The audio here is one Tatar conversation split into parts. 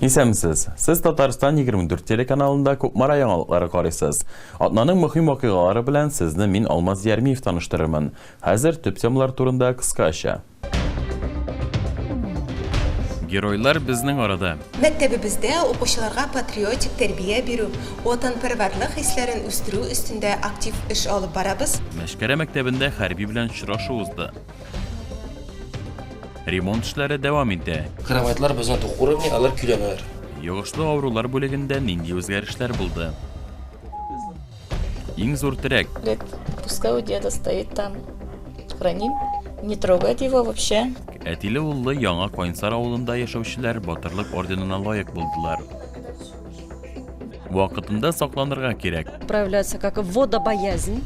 Исәнмесез! Сез Татарстан 24 телеканалында Кукмара яңалыклары карыйсыз. Атнаның мөһим вакыйгалары белән сезне мин Алмаз Ярмиев таныштырырмын. Хәзер төп темалар турында кыскача. Геройлар безнең арада! Мәктәбебездә укучыларга патриотик тәрбия бирү, ватанпәрвәрлек хисләрен үстерү өстендә актив эш алып барабыз. Мәшкәрә мәктәбендә хәрби белән очрашу узды. Ремонт эшләре дәвам итә. Кроватьлар безнең тук уровне, алар көйләнәләр. Йогышлы авырулар бүлегендә нинди үзгәрешләр булды? Иң зур терәк. Лет, пускай у деда стоит там. Храним. Не трогать его вообще. Әтиле уллы яңа Кайнсар авылында яшәүчеләр Батырлык орденына лаек булдылар. Вакытында сакланырга кирәк. Проявляется как водобоязнь,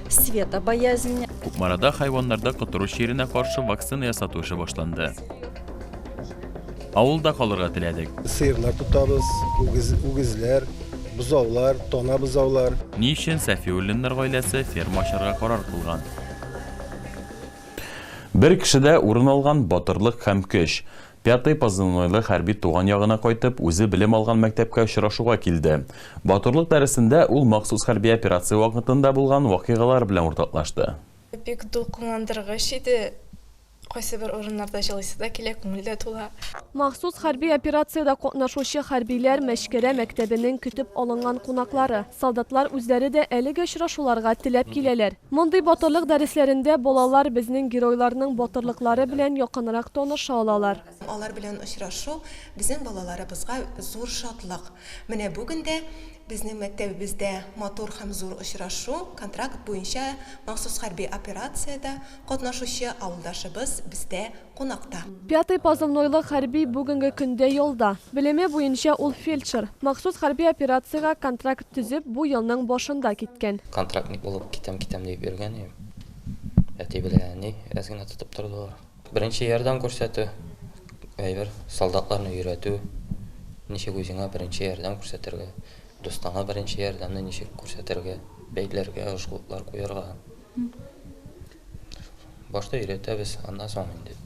светобоязнь. Кукмарада хайваннарда котыру чиренә каршы вакцина ясату эше башланды. Авылда калырга теләдек. Сыерлар тотабыз, үгез, үгезләр, бозаулар, тона бозаулар. Ни өчен Сәфиуллиннар гаиләсе ферма ачарга карар кылган? Бер кешедә урын алган батырлык һәм көч. Пятый позывнойлы хәрби туган ягына кайтып, үзе белем алган мәктәпкә очрашуга килде. Батырлык дәресендә ул махсус хәрби операция вакытында булган вакыйгалар белән уртаклашты. Бик дулкынландыргыч иде. Кайсыбер урыннарда җылыйсы да килә, күңел дә тула. Махсус хәрби операциядә катнашучы хәрбиләр, Мәчкәрә мәктәбенең көтеп алынган кунаклары. Солдатлар үзләре дә әлеге очрашуларга теләп киләләр. Мондый батырлык дәресләрендә балалар безнең геройларның батырлыклары белән якынрак таныша алалар. Алар белән очрашу безнең балаларыбызга зур шатлык. Менә бүген дә безнең мәктәбебездә матур һәм зур очрашу, контракт буенча махсус хәрби операциядә катнашучы авылдашыбыз бездә кунакта. Пятый позывнойлы хәрби бүгенге көндә ялда. Белеме буенча ул фельдшер. Махсус хәрби операциягә контракт төзеп, бу елның башында киткән. Контрактник булып китәм-китәм диеп йөргән идем. Әти белән әни бераз гына тотып тордылар. Беренче ярдәм күрсәтү, әйбер, солдатларны өйрәтү, ничек үзеңә беренче ярдәм күрсәтергә, дустыңа беренче ярдәмне ничек күрсәтергә, бәйләргә, жгутлар куярга. Башта өйрәтәбез, аннан соң инде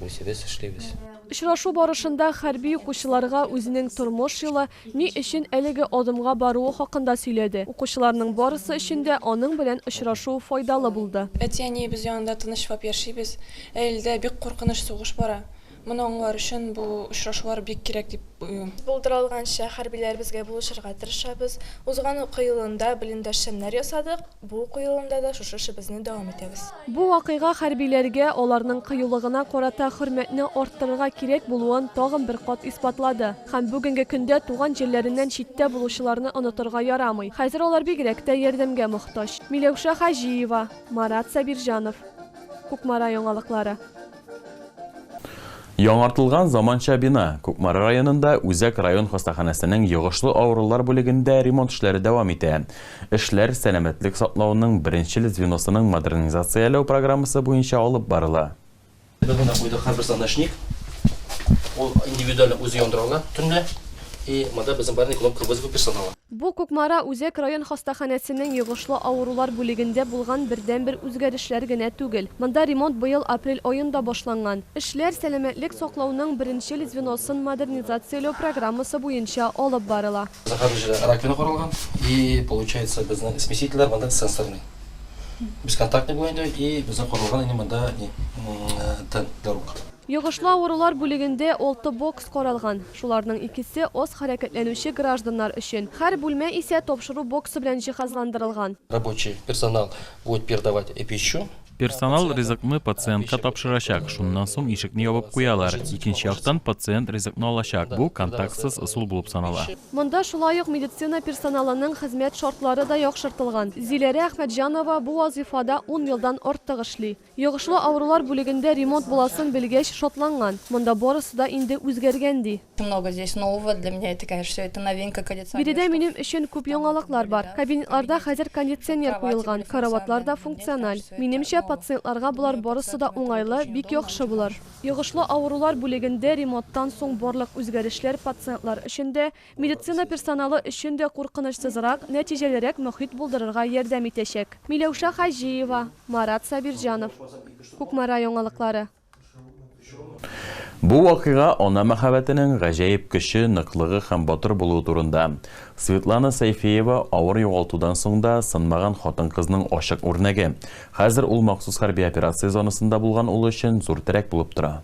үзебез эшлибез. Очрашу барышында хәрби укучыларга үзенең тормыш юлы, ни өчен әлеге адымга баруы хакында сөйләде. Укучыларның барысы өчен дә аның белән очрашу файдалы булды. Әти-әниебез янында тынычлап яшибез, ә илдә бик куркыныч сугыш бара. Моны аңлар өчен бу очрашулар бик кирәк дип уйлыйм. Булдыралганча хәрбиләребезгә булышырга тырышабыз. Узган уку елында блиндаж шәмнәр ясадык, бу уку елында да шушы эшебезне дәвам итәбез. Бу вакыйга хәрбиләргә, аларның кыюлыгына карата хөрмәтне арттырырга кирәк булуын тагын бер кат исбатлады. Һәм бүгенге көндә туган җирләреннән читтә булучыларны онытырга ярамый. Хәзер алар бигрәк тә ярдәмгә мохтаҗ. Миләүшә Хаҗиева, Марат Сабирҗанов, Кукмара яңалыклары. Яңартылган заманча бина, Кукмара районында Үзәк район хастаханәсенең йогышлы авырулар бүлегендә ремонт эшләре дәвам итә. Эшләр сәламәтлек саклауның беренчел звеносының модернизацияләү программасы буенча алып барыла. Без монда куйдык һәрбер звоночник, ул индивидуально үзе яндыра ала төнлә, и монда безнең барный кнопка вызова персонала. Бу Кукмара үзәк район хастаханәсенең йогышлы авырулар бүлегендә булган бердәнбер үзгәрешләр генә түгел. Монда ремонт быел апрель аенда башланган. Эшләр сәламәтлек саклауның беренчел звеносын модернизацияләү программасы буенча алып барыла. Зәһәр һөҗрәләре раковина корылган и получается безнең смесительләр монда сенсорный. Бесконтактный бу инде и безнең корылган инде монда ни тын, для рук. Йогышлы авырулар бүлегендә алты бокс каралган. Шуларның икесе, аз хәрәкәтләнүче гражданнар өчен. Һәр бүлмә исә тапшыру боксы белән җиһазландырылган. Рабочий персонал будет передавать пищу. Персонал ризыкны пациентка тапшырачак, шуннан соң ишекне ябып куялар. Икенче яктан пациент ризыкны алачак, бу контактсыз ысул булып санала. Монда шулай ук медицина персоналының хезмәт шартлары да яхшыртылган. Зиләрә Әхмәтҗанова бу вазыйфада ун елдан артык эшли. Йогышлы авырулар бүлегендә ремонт буласын белгәч шатланган. Монда барысы да инде үзгәргән, ди. Много здесь нового, для меня это, конечно, всё это новинка, кондиционер, штуф. Биредә минем өчен күп яңалыклар бар. Кабинетларда хәзер кондиционер куелган, караватлар да функциональ. Минемчә, пациентларга болар барысы да уңайлы, бик яхшы булыр. Йогышлы авырулар бүлегендә ремонттан соң барлык үзгәрешләр пациентлар өчен дә, Медицина персоналы өчен дә куркынычсызрак, нәтиҗәлерәк мохит булдырырга ярдәм итәчәк. Миләүшә Хаҗиева, Марат Сабирҗанов. Кукмара яңалыклары. Бу вакыйга ана мәхәббәтенең гаҗәеп көче, ныклыгы һәм батыр булуы турында. Светлана Сәйфиева, авыр югалтудан соң да сынмаган хатын-кызның ачык үрнәге. Хәзер ул махсус хәрби операция зонасында булган улы өчен зур терәк булып тора.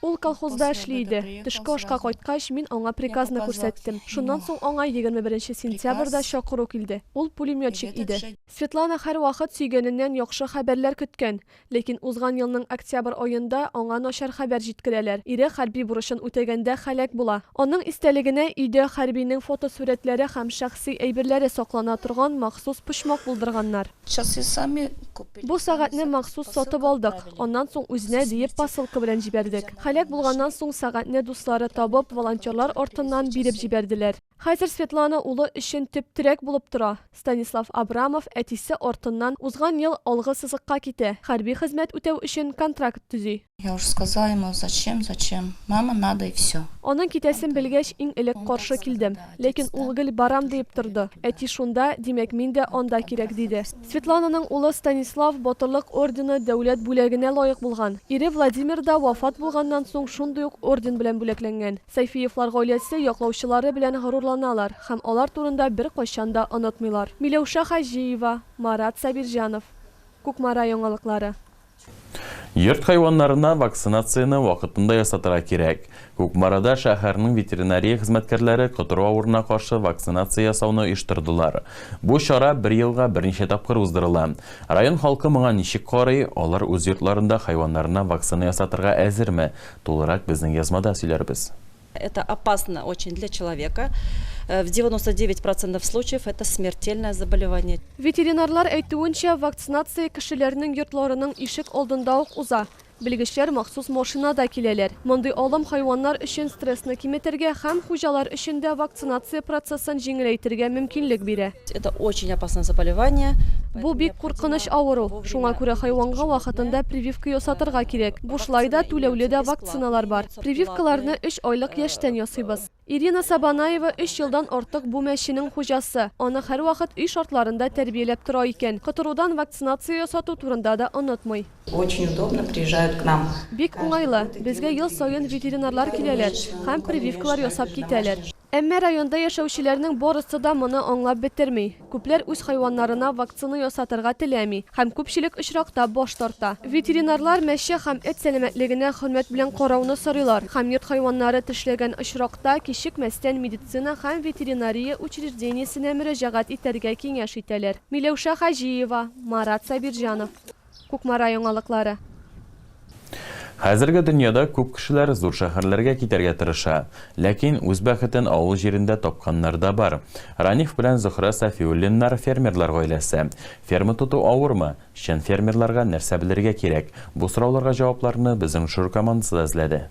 Ул колхозда эшли иде. Төшке ашка кайткач, мин аңа приказны күрсәттем. Шуннан соң аңа егерме беренче сентябрьдә чакыру килде. Ул пулеметчик иде. Светлана һәрвакыт сөйгәненнән яхшы хәбәрләр көткән. Ләкин узган елның октябрь аенда аңа начар хәбәр җиткерәләр, ире хәрби бурычын үтәгәндә һәлак була. Аның истәлегенә өйдә хәрбинең фотосурәтләре һәм шәхси әйберләре саклана торган махсус почмак булдырганнар. Бу сәгатьне махсус сатып алдык, аннан соң үзенә диеп посылка белән җибәрдек. Һәлак булганнан соң сәгатьне дуслары табып, волонтерлар артыннан биреп җибәрделәр. Хәзер Светлана улы өчен төп терәк булып тора. Станислав Абрамов әтисе артыннан узган ел алгы сызыкка китә, хәрби хезмәт үтәү өчен контракт төзи. Я уже сказала ему, зачем, зачем, мама надо и все. Аның китәсен белгәч, иң элек каршы килдем. Ләкин ул гел барам диеп торды. Әти шунда, димәк, мин дә анда кирәк, диде. Светлананың улы Станислав Батырлык ордены дәүләт бүләгенә лаек булган. Ире Владимир да вафат булганнан соң шундый ук орден белән бүләкләнгән. Сәйфиевлар гаиләсе яклаучылары белән горурланалар һәм алар турында беркайчан да онытмыйлар. Миләүшә Хаҗиева, Марат Сабирҗанов. Кукмара яңалыклары. Йорт хайваннарына вакцинацияне вакытында ясатырга кирәк. Кукмарада шәһәрнең ветеринария хезмәткәрләре котыру авырына каршы вакцинация ясауны оештырдылар. Бу чара бер елга берничә тапкыр уздырыла. Район халкы моңа ничек карый, алар үз йортларында хайваннарына вакцина ясатырга әзерме, тулырак безнең язмада сөйләрбез. Это опасно очень для человека. Э, в 99 процентов случаев это смертельное заболевание. Ветеринарлар әйтүенчә, вакцинация кешеләрнең йортларының ишек алдында ук уза. Белгечләр махсус машинада киләләр. Мондый алым хайваннар өчен стрессны киметергә һәм хуҗалар өчен дә вакцинация процессын җиңеләйтергә мөмкинлек бирә. Это очень опасное заболевание. Бу бик куркыныч авыру. Шуңа күрә хайванга вакытында прививка ясатырга кирәк. Бушлай да, түләүле дә вакциналар бар. Прививкаларны өч айлык яшьтән ясыйбыз. Ирина Сабанаева өч елдан артык бу мәченең хуҗасы. Аны һәрвакыт өй шартларында тәрбияләп тора икән. Котырудан вакцинация ясату турында да онытмый. Очень удобно, приезжают к нам. Бик уңайлы. Безгә ел саен ветеринарлар киләләр һәм прививкалар ясап китәләр. Әмма районда яшәүчеләрнең барысы да моны аңлап бетерми. Күпләр үз хайваннарына вакцина ясатырга теләми һәм күпчелек очракта баш тарта. Ветеринарлар мәче һәм эт сәламәтлегенә хөрмәт белән карауны сорыйлар һәм йорт хайваннары тешләгән очракта кичекмәстән медицина һәм ветеринария учреждениесенә мөрәҗәгать итәргә киңәш итәләр. Миләүшә Хаҗиева, Марат Сабирҗанов. Кукмара яңалыклары. Хәзерге дөньяда күп кешеләр зур шәһәрләргә китәргә тырыша. Ләкин үз бәхетен авыл җирендә тапканнар да бар. Раниф белән Зөһрә Сафиуллиннар, фермерлар гаиләсе. Ферма тоту авырмы? Чын фермерларга нәрсә белергә кирәк? Бу сорауларга җавапларны безнең жюр командасы да эзләде.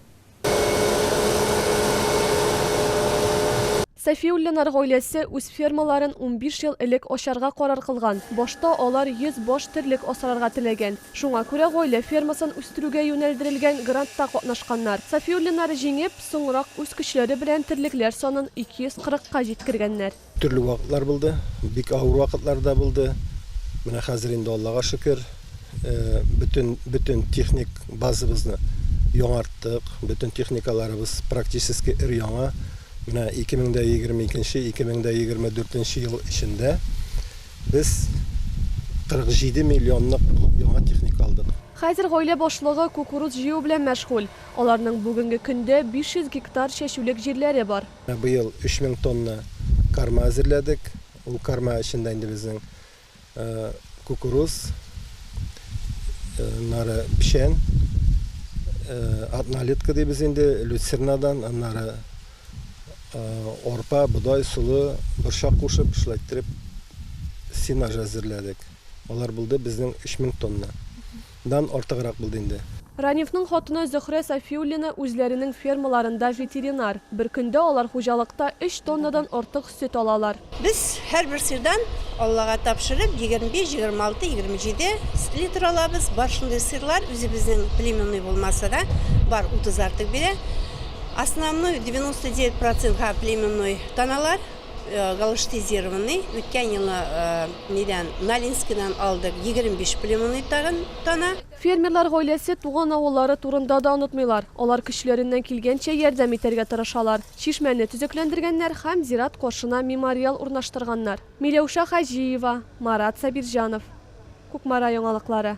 Сафиуллинар гаиләсе үз фермаларын унбиш ел элек ачарга карар кылган. Башта алар йөз баш терлек асрарга теләгән. Шуңа күрә гаилә фермасын үстерүгә юнәлдерелгән грантта катнашканнар. Сафиуллинар җиңеп, соңрак үз көчләре белән терлекләр санын ике йөз кырыкка җиткергәннәр. Төрле вакытлар булды, бик авыр вакытлар да булды. Менә хәзер инде, Аллага шөкер, бөтен, бөтен техник базабызны яңарттык, бөтен техникаларыбыз практически өр-яңа. Менә 2022, 2024 ел эчендә без 47 миллионлык яңа техника алдык. Хәзер гаилә башлыгы кукуруз җыю белән мәшгуль. Аларның бүгенге көндә 500 гектар чәчүлек җирләре бар. Быел 3000 тонна карма әзерләдек. Ул карма эчендә инде безнең кукуруз, аннары печән, однолетка дибез инде, люцернадан, аннары арпа, бодай, солы, борчак кушып, шулай иттереп сенаж әзерләдек. Алар булды безнең 3000 тонна. дан артыграк булды инде. Ранифның хатыны Зөһрә Сафиуллина үзләренең фермаларында ветеринар. Бер көндә алар хуҗалыкта өч тоннадан артык сөт алалар. Без һәрбер сыердан, Аллага тапшырып, егерме биш, егерме алты, егерме җиде литр алабыз. Бар шундый сыерлар, үзебезнең племенной булмаса да, бар, утыз артык бирә. Основной, девяносто девять процентка племенной таналар. Галштизированный үткән елны нидән, Налинскидан алдык, 25 племунный тагын тана. Фермерлар гаиләсе туган авыллары турында да онытмыйлар, алар көчләреннән килгәнчә ярдәм итәргә тырышалар. Чишмәне төзекләндергәннәр һәм зират каршына мемориал урнаштырганнар. Миләүшә Хаҗиева, Марат Сабирҗанов. Кукмара яңалыклары.